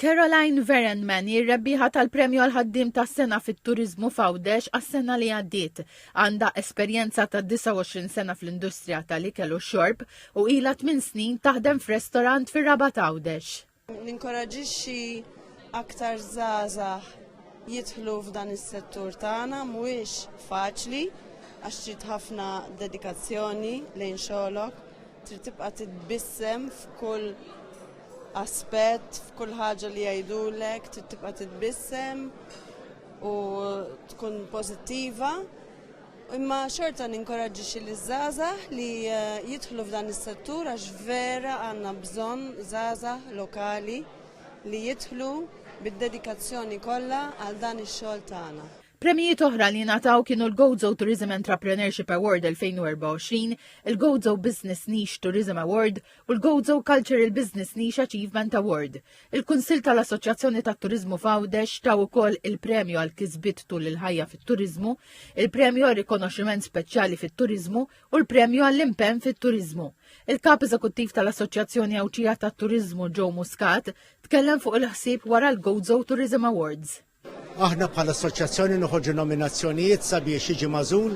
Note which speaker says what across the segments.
Speaker 1: Caroline Verenman hi r-rebbieħa tal-Premju għal Ħaddiem tas-Sena fit-Turiżmu f'Għawdex għas-sena li għaddiet. Għandha esperjenza ta' 29 sena fl-industrija tal-ikel u x-xorb u ilha tmien snin taħdem f'restorant fir-Rabat Għawdex. Ninkoraġixxi
Speaker 2: aktar żgħażagħ jidħlu f'dan is-settur tagħna mhuwiex faċli għax trid ħafna dedikazzjoni lejn xogħlok. Trid tibqa' titbissem f'kull aspett, f'kull ħaġa li jgħidulek, trid tibqa' titbissem u tkun pożittiva. Imma xorta ninkoraġġixxi liż-żgħażagħ li eh, jidħlu f'dan is-settur għax vera għandna bżonn żgħażagħ lokali li jidħlu bid-dedikazzjoni kollha għal dan ix-xogħol tagħna. Premjijiet oħra li
Speaker 1: ngħataw kienu l-Gozo Tourism Entrepreneurship Award 2024, il-Gozo Business Niche Tourism Award u l-Gozo Cultural Business Niche Achievement Award. Il-Kunsill tal-Assoċjazzjoni tat-Turiżmu f'Għawdex taw ukoll il-Premju għal Kisbiet Tul il-Ħajja fit-Turiżmu, il-Premju għal Rikonoxximent Speċjali fit-Turiżmu u l-Premju għall-Impenn fit-Turiżmu. Il-Kap Eżekuttiv tal-Assoċjazzjoni Għawdxija tat-Turiżmu Joe Muscat tkellem fuq il-ħsieb wara l-Gozo Tourism Awards. Aħna bħala
Speaker 3: assoċjazzjoni noħorġu nominazzjonijiet sabiex jiġi magħżul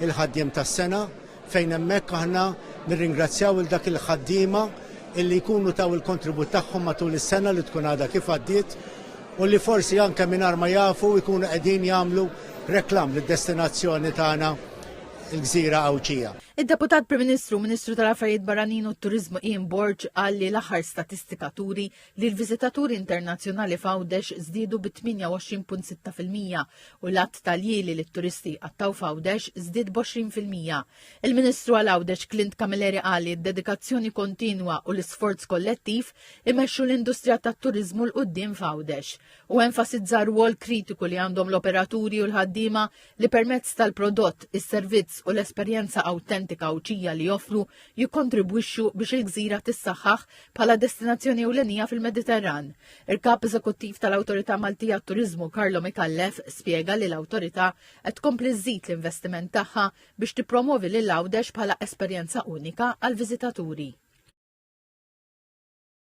Speaker 3: il-ħaddiem tas-sena fejn hemmhekk aħna nirringrazzjaw lil dak il-ħaddiema illi jkunu taw il-kontribut tagħhom matul is-sena li tkun għadha kif għaddiet u li forsi anke mingħajr ma jafu jkunu qegħdin jagħmlu reklam lid-destinazzjoni tagħna il-Gżira Għawdxija. Id-Deputat Prim Ministru
Speaker 1: u Ministru tal-Affarijiet Barranin u t-Turiżmu Ian Borg qal li l-aħħar statistika turi li l-viżitaturi internazzjonali f'Għawdex żdiedu bi 28.6 fil-mija u l-għadd tal-jieli li t-turisti jqattgħu f'Għawdex żdied b'għoxrin fil-mija. Il-Ministru għal Għawdex Clint Camilleri qal li d-dedikazzjoni kontinwa u l-isforz kollettiv imexxu l-industrija tat-turiżmu 'l quddiem f'Għawdex u enfasizza r-rwol kritiku li għandhom l-operaturi u l-ħaddiema li permezz tal-prodott, is-servizz u l-esperjenza awtentika Għawdxija li joffru jikkontribwixxu biex il-gżira tissaħħaħ bħala destinazzjoni ewlenija fil-Mediterran. Il-Kap Eżekuttiv tal-Awtorità Maltija għat-Turiżmu Carlo Micallef spjega li l-awtorità qed tkompli żżid l-investiment tagħha biex tippromovi lil Għawdex bħala esperjenza unika għall-viżitaturi.